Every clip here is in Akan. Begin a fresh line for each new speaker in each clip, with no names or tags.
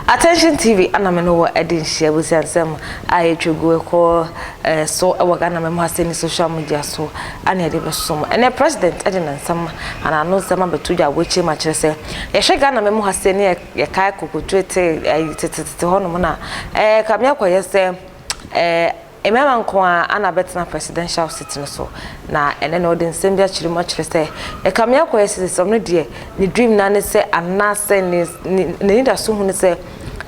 Attention TV ana me no wɔ ɛde nhyia busiansɛm a yɛtwa gu ɛkɔ eh, so ɛwɔ Ghana mɛmu ase ne social media so ana yɛde bɛsom ɛnɛ president ɛde ne nsɛm ana ano nsɛm abɛto gya wɔakyɛ mu akyerɛ sɛ yɛhwɛ Ghana mɛmu ase ne yɛkae kokotuete eh, tetetete hɔnom na ɛɛ eh, kame akɔyɛ sɛ Ɛɛ, mmarima nko ara na bɛtena presidential seat no so, na ɛnnɛ no ɔde nsɛm bi akyerɛ mu akyerɛ sɛ Ɛkame akɔyɛ sɛ sɛ ɔno deɛ ne dream no ara ne sɛ anaasɛ ne ne n'anidaso hu ne sɛ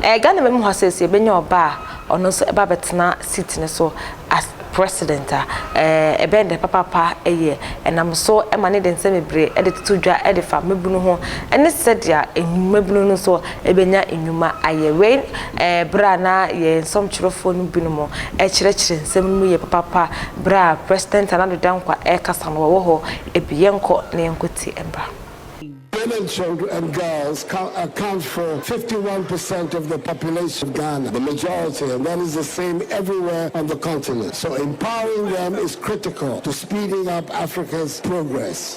ɛɛ Ghana mmamu ha sɛ sɛ yɛbɛnya ɔba a ɔno nso ɛba abɛtena seat no so as president a ɛɛ ɛbɛn deɛ papaapa ɛyɛ. Ɛnam so ma no de nsɛm bebree ɛde toto dwa ɛde fa mmabunu ho ɛne sɛdeɛ mmabunu no nso bɛnya nnwuma ayɛ. Wei ɛɛ berɛ a na yɛn nsɔmtwerɛfoɔ no binom rekyerɛkyerɛ nsɛm no mu yie papaapa berɛ a President Nana Addo Dankwa rekasa no, wɔwɔ hɔ bi. Yɛnkɔ na yɛnkɔtie mmra. Women's
and girls account for 51 percent of the population of Ghana, the majority and that is the same everywhere on the continent so empowering them is critical to speeding up Africa's progress.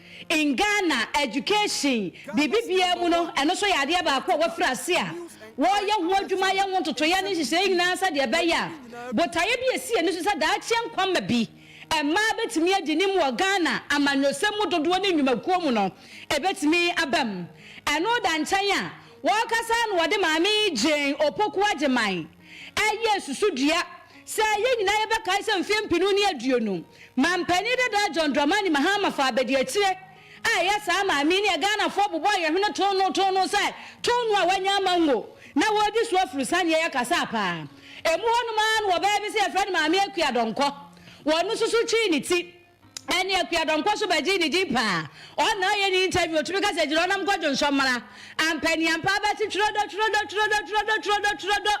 In Ghana, education, biribi biara mu no, ɛno nso yɛ adeɛ baako a wɔafiri ase a wɔreyɛ ho adwuma, ayɛ ho ntotoeɛ ne nhyehyɛeɛ nyinaa sɛdeɛ ɛbɛyɛ a botaeɛ bi a ɛsi ani nso sɛ daakye nkwamma bi mmaa bɛtumi adi nim wɔ Ghana amanyɔsɛm mu dodoɔ ne nnwumakuo mu no ɛbɛtumi aba mu. Ɛno da nkyɛn a, wɔkasa ara na wɔde Maame Jane Opoku Agyemang, Ɛyɛ nsusudua sɛ yɛn nyinaa yɛbɛkae sɛ mfe mpenu ne aduonu Manpanin dada John Dramani Mahama faa abadiakyire a ɛyɛ saa maa me ne Ghanafoɔ bobɔɔ yɛn hwene too no too no sɛ too no a wanya ama ngo na wɔredi so afuru saneɛ yɛkasaa paa ɛmu hɔnom ara no ɔbaa bi sɛ yɛfrɛ no Maame Akua Donkor wɔno nso so twee ne ti Ɛne Akua Donkor so bɛgyee ne din paa. Ɔn na ɔyɛ ne interview otumi ka sɛ gyina hɔ na mo kɔdwo nsɔ mmra. Ampa ni ampa abɛse twerɛdɔ twerɛdɔ twerɛdɔ twerɛdɔ twerɛdɔ twerɛdɔ.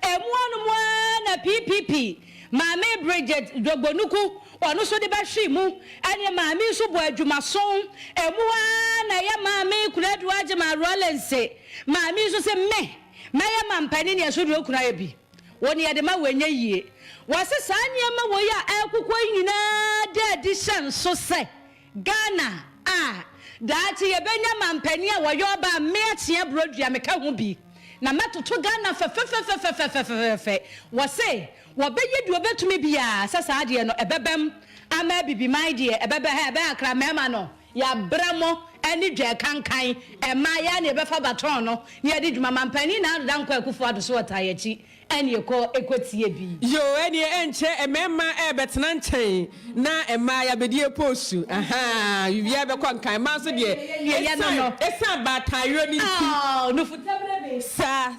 Ɛmu hɔ nom aa na PPP Maame Bridget Dwogbonuku ɔno so de bɛhwee mu. Ɛne Maame nso bɔ adwumaso. Ɛmu hɔ aa na ɛyɛ Maame Kunadu Agyeman Rawlings. Maame nso se me mɛyɛ mampanin ne ɛso deɛ okunu ayɛ bi. Wo nea de ma wo ɛnyɛ yie. Wɔse saa nneɛma wei a ɛrekokɔ yi nyinaa da adi hyɛ nso sɛ Ghana a daakye yɛbɛnya mampanin a wɔyɛ ɔbaa mmea kyea brodua meka ho bi na mɛtoto Ghana fɛfɛfɛfɛfɛfɛfɛfɛfɛ wɔse wɔbɛyɛ deɛ wɔbɛtumi biara sɛ saa adeɛ no ɛbɛbam ama abibiman deɛ ɛbɛbɛ ha ɛbɛhakra mmarima no Yɛabrɛ mo ne dwɛɛ kankan mmaa yɛ a na yɛbɛfa baton no na yɛde dwuma ma mpanin Nana Ado Dankwa Akufo Ado so ɔtaa yɛakyi na yɛkɔ kɔtie bi. Yoo ɛneɛ ɛnkyɛ
mmarima ɛɛbɛtena nkyɛn na mmaa yɛabɛdi apoosu ahaa biribiara bɛkɔ nkan mmaa nso deɛ ɛsiane ɛsiane baataayerɛ no nti
saa.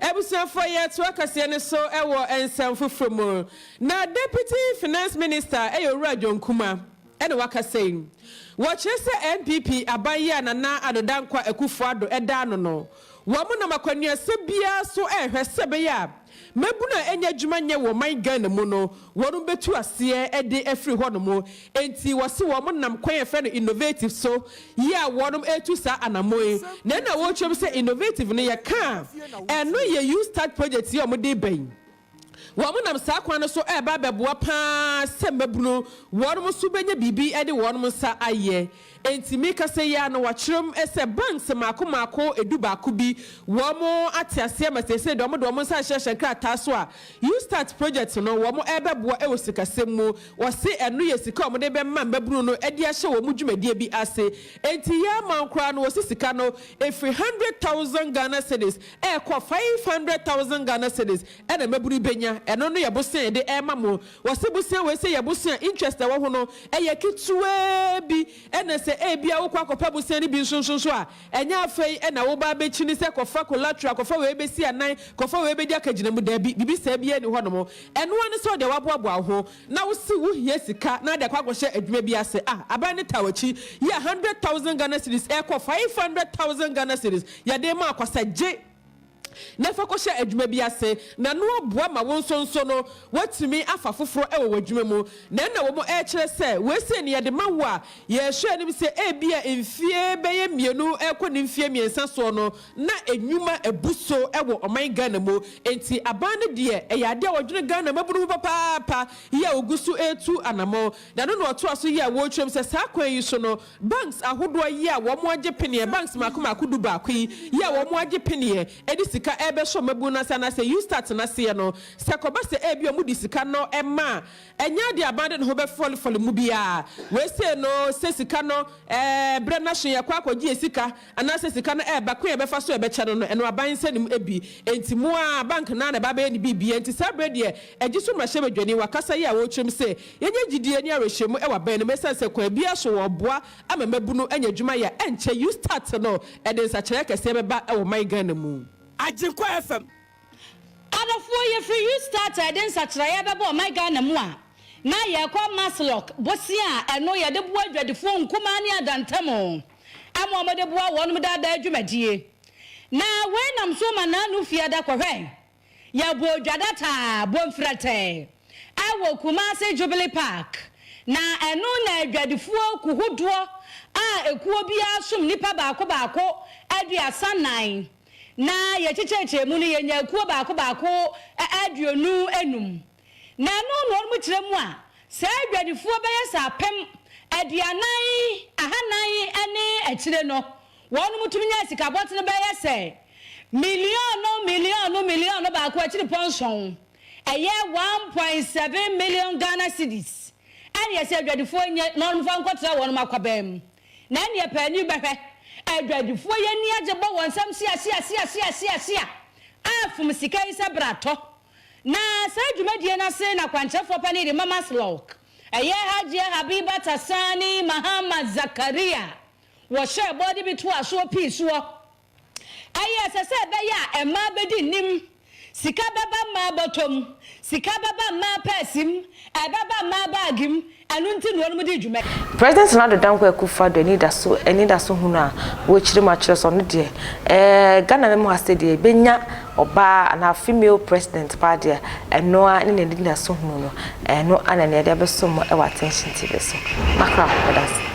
Abusuafoɔ yɛ toa kaseɛ no so wɔ nsɛm foforɔ mu. Na Deputy Finance Minister yɛ Owura John Kumah na wakasa yi. Wɔkyerɛ sɛ NPP aban yi a Nana Addo Dankwa Akufo Addo da ano no, wɔn nam akwannuasɛm biara so rehwɛ sɛ ɛbɛyɛ a mmabunu a ɛnyɛ adwuma nyɛ wɔ ɔman Ghana mu no wɔn bɛtu aseɛ de afiri hɔnom Enti wɔse wɔn nam kwan a yɛfrɛ no innovative so yi a wɔn retu saa anamɔn yi. Nea na wɔrekyerɛ mu sɛ innovative no, yɛka a, ɛno yɛ Ustad project yi a wɔde reba yi. Wɔn nam saa kwan no so reba abɛboa pa ara sɛ mmabunu wɔn nso bɛnya biribi de wɔn nsa ayɛ. Enti me kasa yi ara no wɔakyerɛ mu sɛ banks mmaako mmaako dubaako bi. Wɔn ate aseɛ ma seesei deɛ wɔde wɔn nsa ahyehyɛ nkrataa so a You Start project no wɔn rebɛboa wɔ sikasɛm mu. Wɔse ɛno yɛ sika a wɔde bɛma mmabunu no de ahyɛ wɔn dwumadie bi ase. Enti yɛ ara man koraa no wɔse sika no ɛfiri hundred thousand Ghana cedis ɛrekɔ five hundred thousand Ghana cedis ɛna mmabunu bɛnya. Ɛno no yɛ bosea a yɛde rema mo. Wɔse bosea wei sɛ yɛ bosea interest a ɛwɔ ho no yɛ ketewaa bi na sɛ ebia wokɔ akɔpɛ bosea no bi nso nso nso a ɛnyɛ afei na woba abɛkyini sɛ kɔfa collateral, kɔfa wei bɛsi anan, kɔfa wei bɛdi akagyina mu, daabi, biribi saa biara nni hɔnom. Ɛno ara ne sɛ wode woaboaboa wo ho na wose wohia sika na wode akɔ akɔhyɛ adwuma bi ase. Ah, aban no taa w'akyi, yɛ a hundred thousand Ghana cedis ɛrekɔ five hundred thousand Ghana cedis yɛde rema akwasagye. na fa kɔhyɛ adwuma bi ase, na ɛno aboa ma wo nso nso no woatumi afa foforo wɔ w'adwuma mu. Na ɛnna wɔn rekyerɛ sɛ, Wei sei na yɛde ma wo a yɛhwɛ anim sɛ ebia mfeɛ bɛyɛ mmienu rekɔ ne mfeɛ mmiɛnsa soɔ no na nnwuma abu so wɔ ɔman Ghana mu. Enti aban no deɛ ɛyɛ adeɛ a wɔdwene Ghana mmabunu ho papaapa yɛ a wɔgu so retu anammɔn. Na ɛno na wɔtoa so yɛ a wɔretwam sɛ saa kwan yi so no Banks ahodoɔ yi a wɔn agye peneɛ, banks mmaako mmaako du baako yi, yi a wɔn agye peneɛ ɛde sika ɛrebɛhyɛ wɔn mabunu no ase anaa sɛ Eustat no aseɛ no, sɛ ɛkɔba sɛ ɛbia wɔde sika no ɛma a, ɛnyɛ adeɛ a aban de ne ho bɛfɔlefɔle mu biara. Wei sei no sɛ sika no ɛɛ berɛ no aso yɛkɔ akɔgye yɛn sika anaasɛ sika no ɛɛba, kwan a yɛbɛfa so a yɛbɛkyɛ no no, ɛno aban nsa nim bi, enti mo ara bank no ara na ɛba abɛyɛ ne biribiara, enti saa berɛ deɛ ɛgye so mmarahyɛbadwani, wakasa yi a ɔrekyerɛm sɛ yɛnyɛ gyidie ne awerɛhyɛmu wɔ aban no mu ɛsiane sɛ kwan biara so wɔreboa ama mmabunu anya adwuma yɛ a ɛnkyɛ Eustart no ɛde nsakyeraɛ kɛseɛ bɛba wɔ ɔman Ghana mu. Agyenkwa FM.
Adɔfoɔ yɛfiri Eustart a ɛde nsakyeraɛ bɛba ɔman Ghana mu a na yɛrekɔ Maslok bosea a ɛno yɛde boa adwadifoɔ nkumaa ne adantamu. Ɛmo a wɔde boa wɔnom daa daa dwumadie. Na wei nam so ma naanu fie ada kɔhwɛ. Yɛ bɔɔ dwa da taa bɔ mfrɛtɛ ɛwɔ Kumasi Jubilee Park. Na ɛno na adwadifoɔ kuhodoɔ a ekuo biara som nipa baako baako aduasa nan. Na yɛ kyekyɛɛkyɛɛ mu no yɛ nyaa kuo baako baako aduonu enum. Na ɛno na wɔn kyerɛ mu a saa adwadifoɔ bɛyɛ sɛ apem aduanan ahanan ne akyire no, wɔn tumi nya sika bɔtene bɛyɛ sɛ miliɔno miliɔno miliɔno baako akyirepɔ nson, ɛyɛ one point seven million Ghana cedis, ɛne ɛsɛ adwadifoɔ nya na wɔn mfa nkɔtra wɔn akwaban mu. Na ɛneɛ paani bɛhwɛ adwadifoɔ yi ani agye bɔ wɔn nsam siasiasiasiasiasia a fom sika yi sɛ bratɔ. Na saa dwumadie no ase na kwankyerɛfoɔ pa no de ma Maslok, ɛyɛ Hajia Habibat Asani Mahamad Zakaria, wɔhyɛɛ bɔ de bi toaa soɔ pii soɔ. Ɛyɛ ɛsɛ sɛ ɛbɛyɛ a mmaa bɛdi nnim, sika bɛba mmaa bɔtɔ mu, sika bɛba mmaa pɛɛse mu, ɛbɛba mmaa baage mu, Ɛno nti na wɔnom dii dwuma yi. President Nana Addo Dankwa
Akufo-Addo anidaso anidaso hunu a wɔrekyerɛ mu akyerɛ sɛ ɔno deɛ ɛɛ Ghana mma mu ha sɛ deɛ yɛbɛnya ɔbaa anaa female president paa deɛ ɛno ara ne n'anidaso hunu no ɛno ara na nea yɛde abɛso mo wɔ Attention TV so. M'akra ho meda ase.